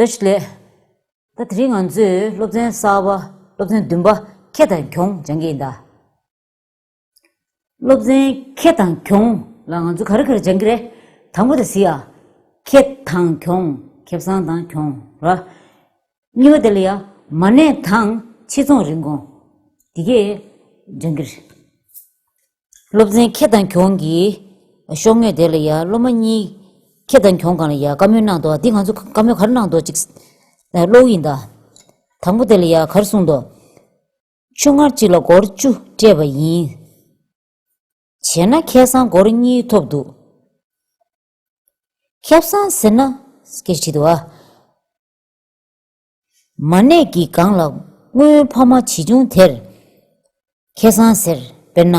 ལྟ་ཞིག་ལས། ད་དེ་རིང་ང་ཚོས་སློབ་ཚན་གསར་པ་སློབ་ཚན་བདུན་པ་ཁེ་དང་གྱོང་སྦྱང་གི་ཡིན་ད། སློབ་ཚན་ཁེ་དང་གྱོང་ལ་ང་ཚོ་ག་རེ་ག་རེ་སྦྱང་གི་རེད། དང་པོ་དེ་གཟིགས་ཡ། ཁེ་དང་གྱོང་ཁེ་བཟང་དང་གྱོང་ར། གཉིས་པ་དེ་ལ་ཡ། མ་གནས་དང་ཕྱི་ཚོང་རིན་གོང། དེ་གས་སྦྱང་གི་རེད། སློབ་ཚན་ཁྱེད་དང་གྱོང་གིས། ཤོག་ངོས་དེ་ལ་ཡ་སློབ་མ་གཉིས། ཁྱེད་དང་གྱོང་གང་ལ་ཡ་བཀའ་མོལ་གནང་འདོག་འདི་ང་ཚོ་བཀའ་མོལ་ག་རེ་གནང་འདོག་ཅིག། ཀློག་ཡིན་ད། དང་པོ་དེ་ལ་ཡ་ག་རེ་གསུངས་འདོག། ཆུ་ངར་གཅིག་ལ་སྒོར་བཅུ་སྤྲད་པ་ཡིན། བྱས་ན་ཁེ་བཟང་སྒོར་གཉིས་ཐོབ་འདུག། ཁེབས་བཟང་ཟེར་ན། སྐད་ཆ་དྲིས་འདུག་ཨ། མ་ནད་ཀྱི་སྒང་ལ་སྔོན་ཕ་མ་བྱིས་ཆུང་དེར་ཁེ་བཟང་ཟེར་དཔེར་ན།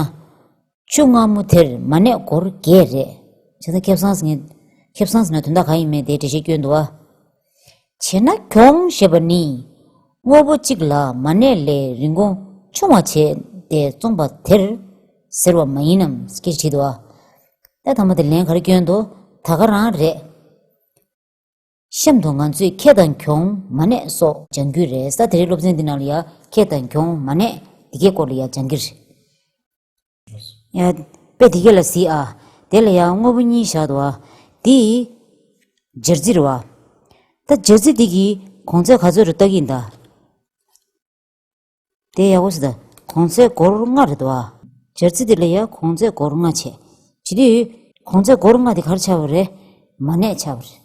ཆུ་སྔ་མོ་དེར་མ་ནད་འགོར་རྒྱས་རེད། བྱས་ཙང་ཁེ་བཟང་ཟེར། ཁེ་བཟང་ཟེར་ན་དོན་དག་གང་ཡིན་མིན་དེའི་འགྲེལ་བཤད་སྐྱོན་འདུག་ཨ། བྱས་ན་གྱོང་ཞེས་པ་ནི། དངོས་པོ་གཅིག་ལ་མ་ནད་ལས་རིན་གོང་ཆུང་བ་བྱས་ཏེ་བཙོངས་པ་དེར་ཟེར་བ་མ་ཡིན་ནམ་ཁྱེད་ཀྱིས་དྲིས་འདུག་ཨ། གནད་དང་པོ་དེ་ལན་ག་རེ་སྐྱོན་འདུག་ད་ག་རང་རེད། གཤམ་དུ་ང་ཚོས་ཁེ་དང་གྱོང་མ་གནས་སོགས་སྦྱང་རྒྱུ་རེད་ས་དེ་རེད་སློབ་ཚན་འདི་ནང་ལ་ཡང་ཁེ་དང་གྱོང་མ་གནས་དེ་གའི་སྐོར་ལ་ཡང་སྦྱང་གི་རེད། དཔེ་དེ་ག་ལ་གཟིགས་ཨ། དེ་ལ་ཡང་དངོས་པོ་གཉིས་བཞག་འདུག་ཨ། འདི། སྦྱར་རྩི་རེད་བ། ད་སྦྱར་རྩི་འདི་གིས་གོང་ཚད་ག་ཚོད་རེ་བརྟག་གིན་གདའ། དེ་ཡག་པོ་བྱེད། གོང་ཚད་སྒོར་ལྔ་རེད་བ། སྦྱར་ཚིག་དེ་ལ་ཡང་གོང་ཚད་སྒོར་ལྔ་བྱས། བྱས་དུས། གོང་ཚད་སྒོར་ལྔ་དེ་གར་ཆགས་པ་རེད། མ་གནས་ཆགས་པ་རེད།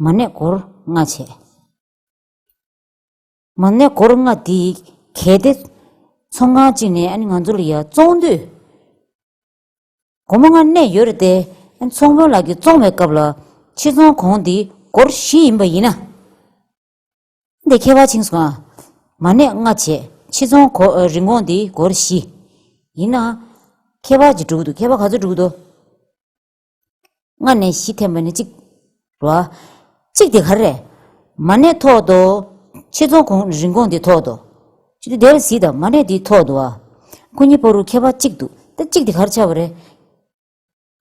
མ་གནས་སྒོར་ལྔ་བྱས། མ་གནས་སྒོར་ལྔ་དེ་གལ་ཏེ། ཚོང་ཁང་གཅིག་ནས་ཨ་ནི་ང་ཚོ་ལ་ཡ་བཙོང་དུས། སྒོར་མོ་ལྔ་གནས་ཡོད་རེད་དེ། ཨ་ནི་ཚོང་དཔོན་ལགས་ཀྱིས་བཙོང་བའི་སྐབས་ལ། ཕྱིར་ཚོང་གོང་དེ་སྒོར་བཞི་ཡིན་པ་ཡིན་ན། འདི་མཁས་པ་ཆིངས་སུ་ཨ། མ་གནས་ལྔ་བྱེད་ཕྱི་ཚོང་གོ། རིན་གོང་འདི་སྒོར་བཞི། ཡིན་ན། མཁས་པ་ཇི་དྲུག་འདུག་མཁས་པ་ག་ཚོད་དྲུག་འདུག། ལྔ་ནས་བཞི་ཐེམ་པ་ནི་གཅིག། རོ། གཅིག་དེ་ག་རེ། མ་གནས་ཐོག་ཏུ། ཕྱི་ཚོང་གོ། རིན་གོང་འདི་ཐོག་ཏུ། ཅི་འདི་རེ་ཟིག་དང་མ་གནས་འདི་ཐོག་ཏུ་ཨ། སྐུ་ཉིད་པོ་རུ་མཁས་པ་གཅིག་འདུག་ད་གཅིག་དེ་ག་རེ་ཆགས་པ་རེད།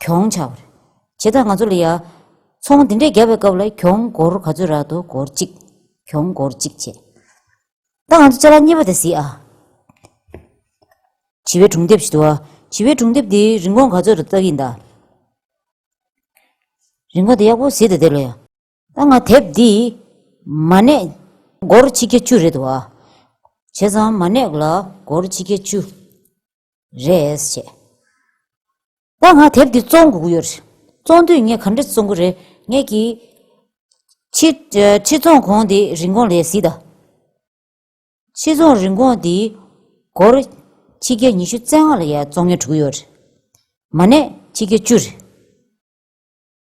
གྱོང་ཆག་པར་བྱེད་ད་ང་ཚོ་ལ་ཡ། ཚོང་འདི་འདྲས་བརྒྱབ་པའི་སྐབས་ལ་གྱོང་སྒོར་ག་ཚོད་རག་འདུག་སྒོར་གཅིག། གྱོང་སྒོར་གཅིག་བྱས། ད་ང་ཚོ་ལྕེ་ལ་གཉིས་པ་དེ་གཟིགས་ཨ། བྱི་བའི་གྲུང་དེབ་ཞིག་འདུག་ཨ། བྱི་བའི་གྲུང་དེབ་འདིའི་རིན་གོང་ག་ཚོད་རག་འདུག་ཨ། རིན་གོང་དེ་ཡག་པོ་གཟིགས་ད་དེ་ལ་ཡ། ད་ང་དེབ་འདི་མ་གནས་སྒོར་ཆིག་བརྒྱ་བཅུ་རེད་བ། བྱས་ཙང་མ་གནས་ལ་སྒོར་ཆིག་བརྒྱ་བཅུ་རེད་བྱས། ད་ང་དེབ་འདི་བཙོང་དགོས་ཀྱི་ཡོད་རེད། བཙོང་དུས་ངས་ག་འདྲ་བཙོང་གི་རེད་ངས་ཀྱི། ཕྱིར་བཙོང་གོང་དེ་རིན་གོང་ལས་སྲིད་ད། ཕྱིར་བཙོང་རིན་གོང་འདི་སྒོར་ཆིག་བརྒྱ་ཉི་ཤུ་རྩེ་ལྔ་ལ་ཡ་བཙོང་ཉེར་དྲུག་ཡོད་རེད། མ་གནས་ཆིག་བརྒྱ་བཅུ་རེད།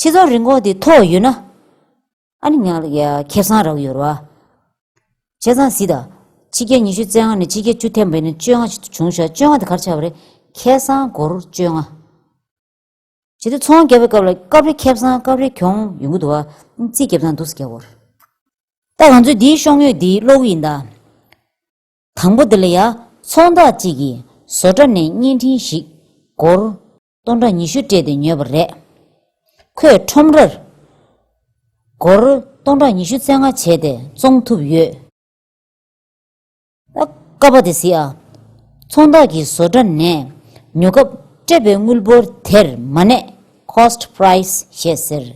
ཁྱེད་ཚོ་རི་འགོག་དེ་ཐོག་ཡོད་ན། ཨ་ནི་ཉག་ལ་ཁེབ་སང་རག་ཡོད་རོ། བྱས་ཙང་ཟིད་ད། ཕྱི་རྒྱལ་ཉི་ཤུ་རྩེ་ལྔ་ནས་ཕྱི་རྒྱལ་བཅུ་ཐེམ་པའི་ནི་བཅོ་ལྔ་བྱུང་ཞག་བཅོ་ལྔ་དེ་གར་ཆགས་པ་རེད། ཁེད་སང་སྒོར་བཅོ་ལྔ། བྱས་ཏེ་ཚོང་རྒྱབ་པའི་སྐབས་ལ་སྐབས་རེ་ཁེབ་སང་སྐབས་རེ་གྱོང་ཡོང་གི་འདུག་བ། རྩིས་རྒྱབ་ཙང་འདུག་སེ་ག་གོ། ད་ང་ཚོའི་འདིའི་ཤོང་ཡོད་འདིའི་གློག་ཡིན་ད། དང་པོ་འདི་ལ་ཡ། ཚོང་བདག་གཅིག་གིས་བཟོ་གྲ་ནས་བརྙན་འཕྲིན་ཞིག་སྒོར། སྟོང་ཕྲག་ཉི་ཤུ་སྤྲད་དེ་ཉོས་པ་རེད། ཁོས་ཁྲོམ་རར་སྒོར་སྟོང་ཕྲག་ཉི་ཤུ་བཙན་སྔ་བྱས་ཏེ་བཙོང་ཐུབ་ཡོད། ཀ་བ་དེ་སི་ཨ་ཚོང་བདག་གི་བཟོ་གྲྭ་ནས་ཉོ་སྐབས་སྤྲད་པའི་དངུལ་འབོར་དེར་མ་གནས། Cost Price། ཞེས་ཟེར།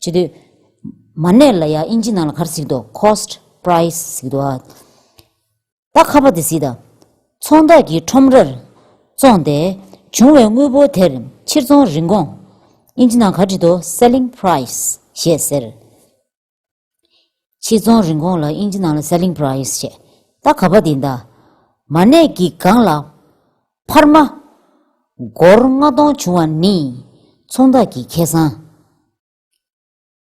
བྱེད་དུས། མ་གནས་ལ་ཡང་དབྱིན་ཇི་ནང་ལ་གར་གཟིགས་འདུག Cost Price གཟིགས་འདུག། ད་ཁ་བ་དེ་ཟིག་དང། ཚོང་བདག་གིས་ཁྲོམ་རར་བཙོངས་ཏེ་བྱུང་བའི་དངུལ་འབོར་དེར་ཕྱིར་ཚོང་རིན་གོང། ཨིན་ཇི་ནང་ག་བྲིས་འདུག Selling Price ཞེས་ཟེར། ཕྱིར་ཚོང་རིན་གོང་ལ་ཨིན་ཇི་ནང་ལ Selling Price ཞེས། ད་ཁ་བ་དེ་དང། མ་གནས་ཀྱི་སྒང་ལ་འཕར་མ། སྒོར་ལྔ་སྟོང་བྱུང་བ་ནི་ཚོང་བདག་གི་ཁེ་བཟང།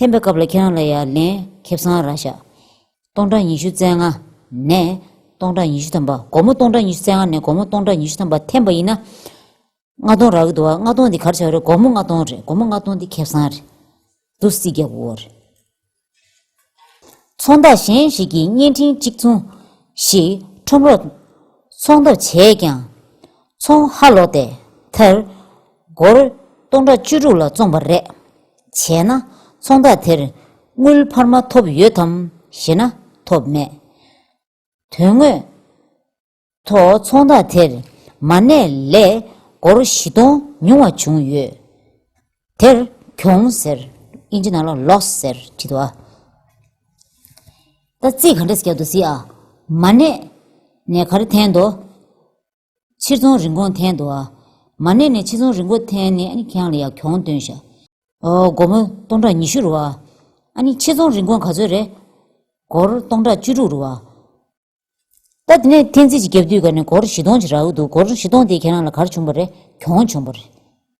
འཐེན་པའི་སྐབས་ལ་ཁྱེད་རང་ལ་ཡང་ལན་ཁེབས་སང་ར་བཞག། སྟོང་ཕྲག་ཉི་ཤུ་རྩེ་ལྔ་ནས་སྟོང་ཕྲག་ཉི་ཤུ་ཐམ་པ་སྒོར་མོ་སྟོང་ཕྲག་ཉི་ཤུ་རྩེ་ལྔ་ནས་སྒོར་མོ་སྟོང་ཕྲག་ཉི་ཤུ་ཐམ་པ་འཐེན་པ་ཡིན་ན། ལྔ་སྟོང་རག་གི་འདུག་ཨ་ལྔ་སྟོང་འདི་གར་བྱ་བ་རེད་སྒོར་མོ་ལྔ་སྟོང་རེད་སྒོར་མོ་ལྔ་སྟོང་འདི་ཁེབས་སང་རེད། དུ་བསིལ་རྒྱག་གི་འོ་རེད། ཚོང་བདག་གཞན་ཞིག་གིས་བརྙན་འཕྲིན་གཅིག་མཚུངས་ཤིག་ཁྲོམ་རོགས། ཚོང་ཐབས་བྱས་ཀྱང། ཚོང་ཧ་ལོག་སྟེ་མཐར། སྒོར་སྟོང་ཕྲག་བཅུ་དྲུག་ལ་བཙོངས་པ་རེད། བྱས་ན་ཚོང་རྟགས་དེར་དངུལ་འཕར་མ་ཐོབ་ཡོད་དམ་ཞེ་ན་ཐོབ་མེད། དོན་དངོས་ཐོག་ཚོང་རྟགས་དེར་མ་གནས་ལས་སྒོར་བཞི་སྟོང་ཉུང་བ་བྱུང་ཡོད། དེར་གྱོང་ཟེར། དབྱིན་ཇི་ནང་ལ Loss ཟེར་བྲིས་འདུག་ཨ། ད་རྩིས་ག་འདྲ་བྱས་འདུག་ཟེར་ཨ། མ་གནས་ནས་ག་རེ་འཐེན་འདུག། ཕྱིར་ཚོང་རིན་གོང་འཐེན་འདུག་ཨ། མ་གནས་ནས་ཕྱིར་ཚོང་རིན་གོང་འཐེན་ནས་ཨ་ནི་ཁྱེད་རང་ལ་ཡག་གྱོང་སྟོན་ཤག། ཨོ། སྒོར་མོ་སྟོང་ཕྲག་ཉི་ཤུ་རུ་ཨ། ཨ་ནི་ཕྱིར་ཚོང་རིན་གོང་ག་ཚོད་རེད། སྒོར་སྟོང་ཕྲག་བཅུ་དྲུག་རུ་ཨ། ད་དེ་ནས་འཐེན་རྩིས་ཀྱི་རྒྱབ་དུས་ག་ནས་སྒོར་བཞི་སྟོང་ཅིག་རག་གི་འདུག་སྒོར་བཞི་སྟོང་དེ་ཁྱེད་རང་ལ་གར་བྱུང་བ་རེད་གྱོང་བྱུང་བ་རེད།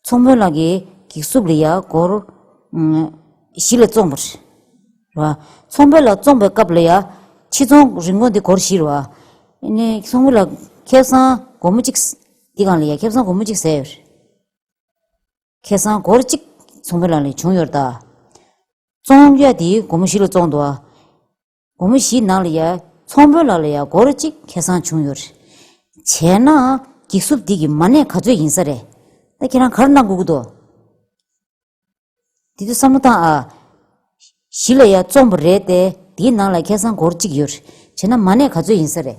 མཚོ་མོ་ལགས་ཀྱིས་གེགས་སུབ་ལི་ཡ་སྒོར། བཞི་ལ་བཙོངས་པ། རེད། མཚོ་མོ་ལགས་བཙོངས་པའི་སྐབས་ལི་ཡ། ཕྱི་ཚོང་རིན་གོང་འདི་སྒོར་བཞི་རེད། མཚོ་མོ་ལགས་ཁེ་བཟང་སྒོར་མོ་གཅིག། འདི་གང་ལི་ཡ་ཁེ་བཟང་སྒོར་མོ་གཅིག་ཟེར་ཡོད། རེད། ཁེ་བཟང་སྒོར་གཅིག་མཚོ་མོ་ལགས་ལས་བྱུང་ཡོད། རེད། བཙོངས་ཡ་འདི་སྒོར་མོ་བཞི་ལ་བཙོངས་འདུག། དགོང་མོ་བཞིའི་ནང་ལ་ཡང་ཚོང་དཔོན་ལགས་ལ་ཡང་སྒོར་གཅིག་ཁེ་སང་བྱུང་ཡོད་རེད། བྱས་ན། འགྱིག་སུབ་འདི་གི་མ་གནས་ག་ཚོད་ཡིན་ས་རེད། ད་ཁྱེད་རང་གར་གནང་དགོས་ཀྱི་འདུག། འདི་ཚོ་བསམ་བློ་བཏང་ཨ། བཞི་ལ་ཡང་བཙོངས་པ་རེད་དེ་དེའི་ནང་ལ་ཁེ་སང་སྒོར་གཅིག་ཡོད་རེད། བྱས་ན་མ་གནས་ག་ཚོད་ཡིན་ས་རེད།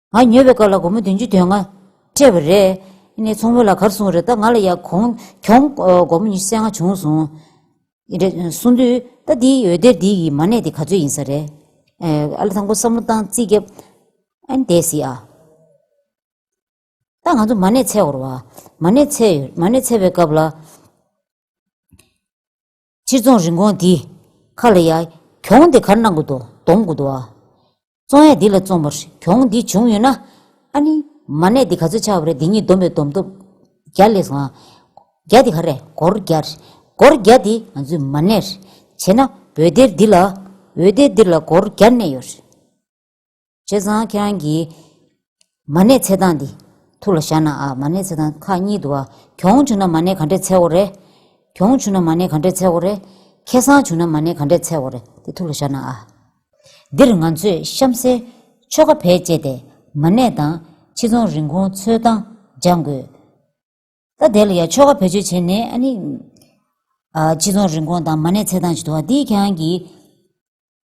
ང་ཉོས་པའི་སྐབས་ལ་སྒོར་མོ་བདུན་ཅུ་དོན་ལྔ་སྤྲད་པ་རེད། ནས་ཚོང་མོ་ལ་གར་སོང་རེད་ད་ང་ལ་ཡང་གོང་གྱོང་སྒོར་མོ་ཉི་ཤུ་རྩེ་ལྔ་བྱུང་སོང། རེད་གསུངས་དུས་ད་འདི་འོད་སྡེར་འདི་ཡི་མ་གནས་དེ་ག་ཚོད་ཡིན་ས་རེད། ཨ་ལ་དང་པོ་བསམ་བློ་བཏང་རྩིས་རྒྱབ་ཨན་དེ་སི་ཨ། ད་ང་ཚོ་མ་གནས་ཚད་བོར་བ། མ་གནས་ཚད་ཡོད་མ་གནས་ཚད་པའི་སྐབས་ལ། སྤྱིར་རྫོང་རིན་གོང་འདི། ཁ་ལ་ཡ། གྱོང་འདི་གར་གནང་དགོས་འདུག་འདོམས་དགོས་འདུག་ཨ། རྩོང་ཡ་འདི་ལ་རྩོམ་པར་གྱོང་འདི་བྱུང་ཡོད་ན། ཨ་ནི། མ་གནས་འདི་ག་ཚོད་ཆགས་པ་རེད་འདི་གཉིས་འདོམས་པའི་འདོམས་ཐོབ། བརྒྱ་ལས་སོང་ཨ། བརྒྱ་འདི་ག་རེད་སྒོར་བརྒྱ། སྒོར་བརྒྱ་འདི་ང་ཚོས་མ་གནས། བྱས་ན་འོད་སྡེར་འདི་ལ། འོད་སྡེར་འདི་ལ་སྒོར་བརྒྱ་གནས་ཡོད། བྱས་ཙང་ཁྱེད་རང་གིས། མ་གནས་འཚེ་སྟངས་འདི། ཐུགས་ལ་བཞག་ན་ཨ། མ་གནས་འཚེ་སྟངས་ཁག་གཉིས་འདུག་ཨ། གྱོང་བྱུང་ན་མ་གནས་ག་འདྲས་འཚེ་བོ་རེད། གྱོང་བྱུང་ན་མ་གནས་ག་འདྲས་འཚེ་བོ་རེད། ཁེ་སང་བྱུང་ན་མ་གནས་ག་འདྲས་འཚེ་བོ་རེད་དེ་ཐུགས་ལ་བཞག་ན་ཨ། འདིར་ང་ཚོས་གཤམ་གསལ། ཆོ་ག་བེད་སྤྱད་དེ། མ་གནས་དང། ཕྱི་ཚོང་རིན་གོང་འཚོལ་སྟངས། སྦྱང་དགོས། ད། དེ་ལ་ཡང་ཆོ་ག་བེད་སྤྱོད་བྱས་ནས་ཨ་ནི། ཕྱི་ཚོང་རིན་གོང་དང་མ་གནས་འཚེ་སྟངས་ཅིག་འདུག་ཨ། འདིས་ཁྱེད་རང་གིས།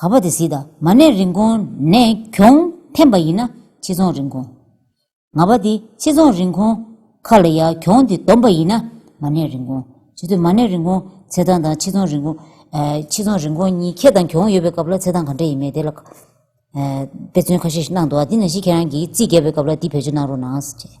ག་པ་དེ་སིདྷ་མ་གནས་རིན་གོང་ནས་གྱོང་འཕེན་པ་ཡིན་ན་ཕྱི་ཚོང་རིན་གོང། ང་པ་དེ་ཕྱི་ཚོང་རིན་གོང་ཁ་ལ་ཡ་གྱོང་དེ་བསྡོམས་པ་ཡིན་ན་མ་གནས་རིན་གོང་བྱེད་དུས་མ་གནས་རིན་གོང་ཚེ་ཐང་དང་ཕྱི་ཚོང་རིན་གོང། ཕྱི་ཚོང་རིན་གོང་གཉིས་ཁྱེད་དང་གྱོང་ཡོད་པའི་སྐབས་ལ་ཚེ་ཐང་ག་འདྲ་ཡིན་མེད་དེ་ལ་དཔེ་མཚོན་ཁ་ཤས་ཤིག་གནང་འདུག་ཨ་དེ་ནང་བཞིན་ཁྱེད་རང་གིས་རྩིས་རྒྱག་པའི་སྐབས་ལ་འདི་བེད་སྤྱོད་གནང་རོགས་གནང།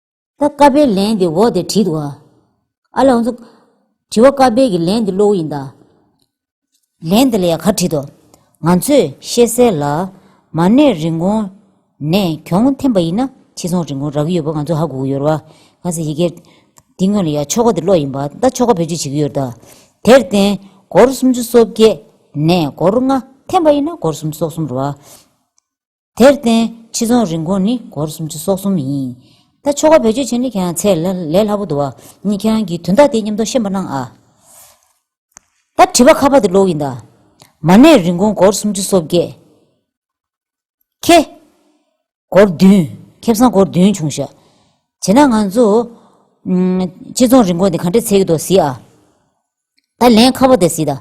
ད་ཀ་དཔེའི་ལན་དེ་འོག་དེར་བྲིས་འདུག་ཨ། ཨ་ལགས་འདུག། དྲི་བ་ཀ་དཔེ་གི་ལན་དེ་གློ་བོ་ཡིན་ད། ལན་དེ་ལ་ཡང་གར་བྲིས་འདུག་ང་ཚོས་ཤེས་གསལ་ལ། མ་གནས་རིན་གོང་ནས་གྱོང་འཐེན་པ་ཡིན་ན་ཕྱི་ཚོང་རིན་གོང་རག་གི་ཡོད་པ་ང་ཚོས་ཧ་གོ་གི་ཡོད་རེད། གང་ཟེར་ཡི་གེ་འདི་དངོས་ལ་ཡང་ཆོ་ག་དེ་གློག་ཡིན་པ་ད་ཆོ་ག་བེད་སྤྱོད་བྱེད་ཀྱི་ཡོད་རེད་ད། དེར་བརྟེན་སྒོར་སུམ་ཅུ་སོ་བརྒྱད་ནས་སྒོར་ལྔ་འཐེན་པ་ཡིན་ན་སྒོར་སུམ་སོ་གསུམ་རེད། དེར་བརྟེན་ཕྱི་ཚོང་རིན་གོང་ནི་སྒོར་སུམ་ཅུ་སོ་གསུམ་ཡིན། ད་ཆོ་ག་བེད་སྤྱོད་བྱེད་ནི་ཁྱེད་རང་ཚད་ལས་སླ་པོ་འདུག་བ། ཉིད་ཁྱེད་རང་གིས་དོན་དག་དེ་མཉམ་དུ་ཤེས་པ་གནང་ཨ། ད་དྲི་བ་ཁ་པར་དེ་ཀློག་ཡིན་ད། མ་གནས་རིན་གོང་སྒོར་སུམ་ཅུ་སོ་བརྒྱད། ཁེ། སྒོར་བདུན། ཁེབས་སང་སྒོར་བདུན་བྱུང་ཤག། བྱེད་ན་ང་ཚོ། ཕྱི་ཚོང་རིན་གོང་དེ་ག་འདྲས་ཚད་ཀྱི་འདུག་ཟིག་ཨ། ད་ལན་ཁ་བ་དེ་སྲིད་ད།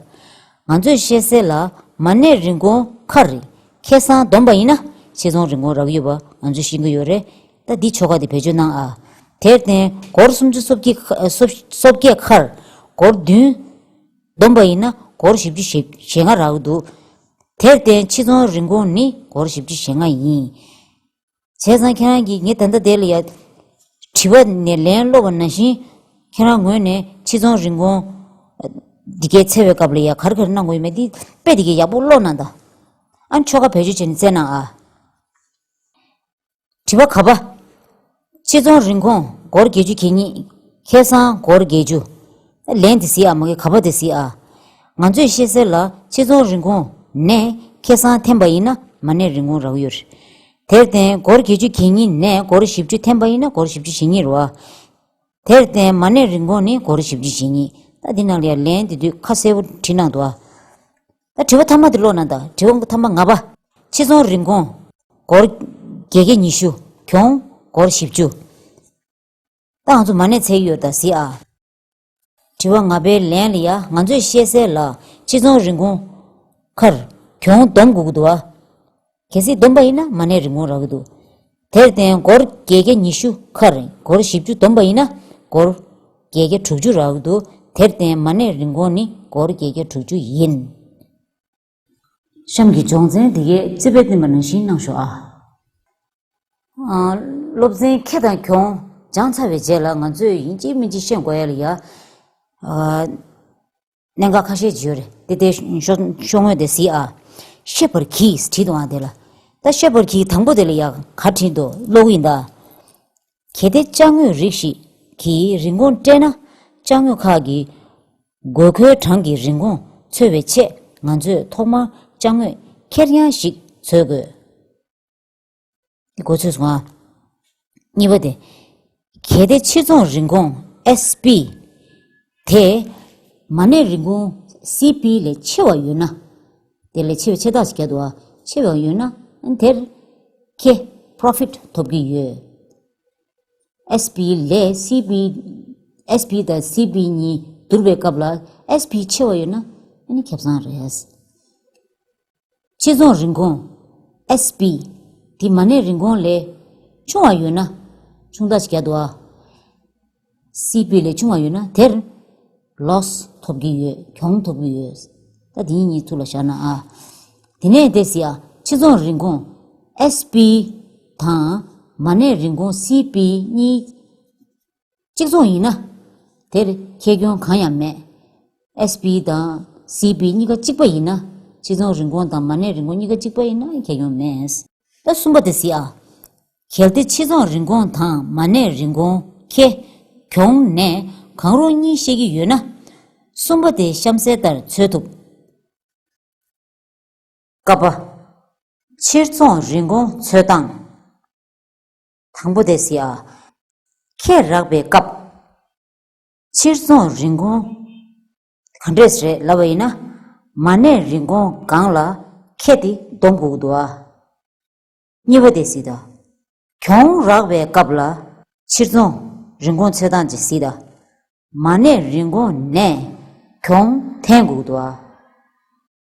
ང་ཚོས་བཤད་གསལ་ལ། མ་གནས་རིན་གོང་མཁར་རི། ཁེ་སང་བསྡོམས་པ་ཡིན་ན། ཆེ་ཚོང་རིན་གོང་རག་ཡོད་པ་ང་ཚོས་ཤེས་གི་ཡོད་རེད། ད་འདི་ཆོ་ག་དེ་བེད་སྤྱོད་གནང་ཨ། དེར་བརྟེན་སྒོར་སུམ་ཅུ་སོ་བརྒྱད་མཁར། སྒོར་བདུན། བསྡོམས་པ་ཡིན་ན་སྒོར་བཞི་བཅུ་ཞེ་ལྔ་རག་འདུག། དེར་བརྟེན་ཆེ་ཚོང་རིན་གོང་ནི་སྒོར་བཞི་བཅུ་ཞེ་ལྔ་ཡིན། བྱས་ཙང་ཁྱེད་རང་གིས་ངའི་ད་ལྟ་དེ་ལ་ཡང་དྲི་བ་ནས་ལན་སློག་པ་ན་བཞིན། ཁྱེད་རང་ངོས་ནས་ཕྱི་ཚོང་རིན་གོང། འདི་གའི་འཚེ་བའི་སྐབས་ལ་ཡང་གར་གར་གནང་དགོས་ཡོད་མེད་འདི་དཔེ་དེ་གའི་ཡག་པོ་ཀློག་གནང་དང། ཨ་ཆོ་ཁ་བེད་སྤྱོད་བྱས་ནས་བཙལ་གནང་ཨ། དྲི་བ་ག་པ། ཕྱི་ཚོང་རིན་གོང་སྒོར་བརྒྱད་ཅུ་གྱེས་ཉིད་ཁེ་བཟང་སྒོར་བརྒྱད་ཅུ། ལན་དེ་ཟིག་ཨ་མ་གི་ག་བ་དེ་ཟིག་ཨ། ང་ཚོས་ཤེས་གསལ་ལ་ཕྱི་ཚོང་རིན་གོང་ནས་ཁེ་སང་འཐེན་པ་ཡིན་ན་མ་ནས་རིན་གོང་རག་ཡོད་རེད། དེར་བརྟེན་སྒོར་གྱེས་ཆུ་གྱེས་གཉིས་ནས་སྒོར་བཞི་བཅུ་འཐེན་པ་ཡིན་ན་སྒོར་བཞི་བཅུ་ཞེ་གཉིས་རོ་ཨ། དེར་བརྟེན་མ་ནས་རིན་གོང་ནི་སྒོར་བཞི་བཅུ་ཞེ་གཉིས། ད་འདི་ནང་ལ་ཡང་ལན་དེ་དུས་ཁ་གསལ་བོ་བྲིས་གནང་འདུག་ཨ། ད་དྲི་བ་ཐ་མ་དེ་ཀློག་ན་ད་དྲི་བ་ཐ་མ་ང་པ། ཕྱི་ཚོང་རིན་གོང་སྒོར་གྱེས་གྱེས་ཉི་ཤུ་གྱོང་སྒོར་བཞི་བཅུ། ཏང་རྫུན་མ་ནས་ཚད་ཡོད་དང་ཟི་ཨ། དྲི་བ་ང་པའི་ལན་ལ་ཡ་ང་ཚོས་ཤེས་གསལ་ལ་ཕྱི་ཚོང་རིན་གོང། མཁར། གྱོང་བསྡོམས་དགོས་ཀྱི་འདུག་ཨ། གལ་སྲིད་བསྡོམས་པ་ཡིན་ན་མ་གནས་རིན་གོང་རག་གི་འདུག་དེར་བརྟེན་སྒོར་བརྒྱད་བརྒྱ་ཉི་ཤུ་མཁར། སྒོར་བཞི་བཅུ་བསྡོམས་པ་ཡིན་ན་སྒོར། བརྒྱད་བརྒྱ་དྲུག་ཅུ་རག་གི་འདུག་དེར་བརྟེན་མ་གནས་རིན་གོང་ནི་སྒོར་བརྒྱད་བརྒྱ་དྲུག་ཅུ་ཡིན། གཤམ་གྱི་སྦྱོང་ཚན་འདི་གའི་རྩིས་དཔེ་བསྟན་པ་ནང་བཞིན་གནང་ཞོག་ཨ། སློབ་ཚན་ཁེ་དང་གྱོང་སྦྱང་ཚར་བའི་རྗེས་ལ་ང་ཚོས་ཡིན་གཅིག་མིན་གཅིག་བཤད་དགོས་ཡ་ལ་ཡ། གནད་འགག་ཁ་ཤས་ཅིག་ཡོད་རེད་དེ་ལྟའི་ཤོག་ངོས་དེ་བཟི་ཨ། ཤེས་པར་གྱིས་བྲིས་འདུག་ཨང་དེ་ལ། ད་ཤེས་པར་གྱིས་དང་པོ་དེ་ལ་ཡ་ག་བྲིས་འདུག་ཀློག་གི་ཡིན་ད། གལ་ཏེ་དཔྱ་དངོས་རིགས་ཤིག་གིས་རིན་གོང་སྤྲད་ན། དཔྱ་དངོས་ཁག་གི་དགོས་མཁོའི་གྲངས་ཀྱི་རིན་གོང་འཚོལ་བའི་ཆེད་ང་ཚོས་ཐོག་མར་དཔྱ་དངོས་ཁེར་རྐྱང་ཞིག་འཚོལ་དགོས། གཉིས་པ། གལ་ཏེ་ཕྱིར་ཚོང་རིན་གོང། SP། དེ། མ་གནས་རིན་གོང། CP། ལས་ཆེ་བ་ཡོད་ན། དེ་ལས་ཆེ་བའི་ཆེ་རྟགས་ཤིག་བརྒྱ་དང་ཕྱེད་བའང་ཡོད་ན། དེར། ཁེ། Profit། ཐོབ་ཀྱི་ཡོད། SP། ལས། CP། SP། དང CP། གཉིས་བསྡུར་བའི་སྐབས་ལ། SP། ཆེ་བ་ཡོད་ན། ཁེ་བཟང་རེད། ཕྱི་ཚོང་རིན་གོང། SP། དེ་མ་གནས་རིན་གོང་ལས། ཆུང་བ་ཡོད་ན། ཆུང་རྟགས་ཤིག་བརྒྱ་དང། སིའི་སྤུས་ལས་ཆུང་བ་ཡོད་ན་དེར། Loss། ཐོབ་ཀྱི་ཡོད་གྱོང་ཐོབ་ཀྱི་ཡོད། ད་དེ་གཉིས་གཉིས་ཐུགས་ལ་བཞག་ན་ཨ། དེ་ནས་དེ་སི་ཨ་ཕྱི་ཚོང་རིན་གོང། SP། དང། མ་གནས་རིན་གོང CP གཉིས། གཅིག་མཚུངས་ཡིན་ན། དེར་ཁྱད་གྱོང་གང་ཡང་མེད། SP། དང། CP གཉིས་ཀ་གཅིག་པ་ཡིན་ན། ཕྱི་ཚོང་རིན་གོང་དང་མ་གནས་རིན་གོང་གཉིས་ཀ་གཅིག་པ་ཡིན་ན་ཁྱད་གྱོང་མེད། ད་གསུམ་པ་དེ་སི་ཨ། གལ་ཏེ་ཕྱི་རྫོང་རིན་གོང་དང་མ་གནས་རིན་གོང་ཁེ། གྱོང། ནས་གང་རུང་གཉིས་བཤད་ཀྱི་ཡོད་ན། གསུམ་པ་དེ་གཤམ་གསལ་ལྟར་འཚོལ་ཐུབ། ཀ་པ། ཕྱིར་རྫོང་རིན་གོང་འཚོལ་སྟངས། དང་པོ་དེ་སི་ཨ། ཁས་རགས་པའི་སྐབས། ཕྱིར་རྫོང་རིན་གོང། ག་འདྲས་རེད་ལབ་པ་ཡིན་ན། མ་གནས་རིན་གོང་སྒང་ལ་ཁས་དེ་བསྡོམས་དགོས་ཀྱི་འདུག་ཨ། གཉིས་པ་དེ་སྲིད་དོ། གྱོང་རག་པའི་སྐབས་ལ། ཕྱིར་འཚོང་རིན་གོང་ཚོད་དང་ཇི་སྲིད། མ་གནས་རིན་གོང་ནས། གྱོང་ཐེན་འགུགས་དུ་བ།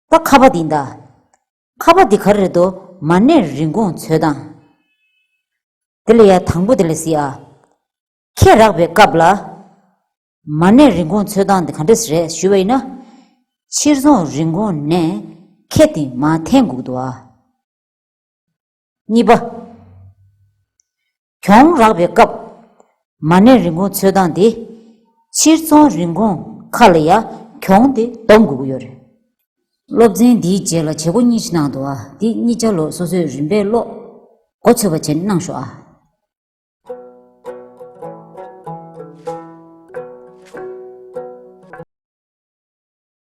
ད་ཁ་པ་འདི་འདའ། ཁ་པ་འདི་ག་རེད་དོ་མ་གནས་རིན་གོང་ཚོད་དང། དེ་ལ་ཡ་དང་པོ་དེ་ལ་སྲིད་ཨ། ཁྱད་རག་པའི་སྐབས་ལ། མ་གནས་རིན་གོང་ཚོད་དང་འདི་ག་འདྲ་སི་རེད་ཞུས་པ་ཡིན་ན། ཕྱིར་འཚོང་རིན་གོང་ནས། ཁྱད་དེ་མ་ཐེན་འགུགས་དུ་བ། གཉིས་པ། གྱོང་རག་པའི་སྐབས། མ་གནས་རིན་གོང་འཚོལ་སྟངས་དེ། ཕྱིར་ཚོང་རིན་གོང་ཁག་ལ་ཡང་གྱོང་དེ་བསྡོམས་དགོས་ཀྱི་ཡོད་རེད། སློབ་ཚན་འདིའི་རྗེས་ལ་བྱེད་སྒོ་གཉིས་ཀྱི་ནང་དུ་ཨ་འདི་གཉིས་ཆ་ལོག་སོ་སོས་རིམ་པས་ཀློག་འགོ་ཚོས་པ་བྱེད་གནང་ཞོག་ཨ།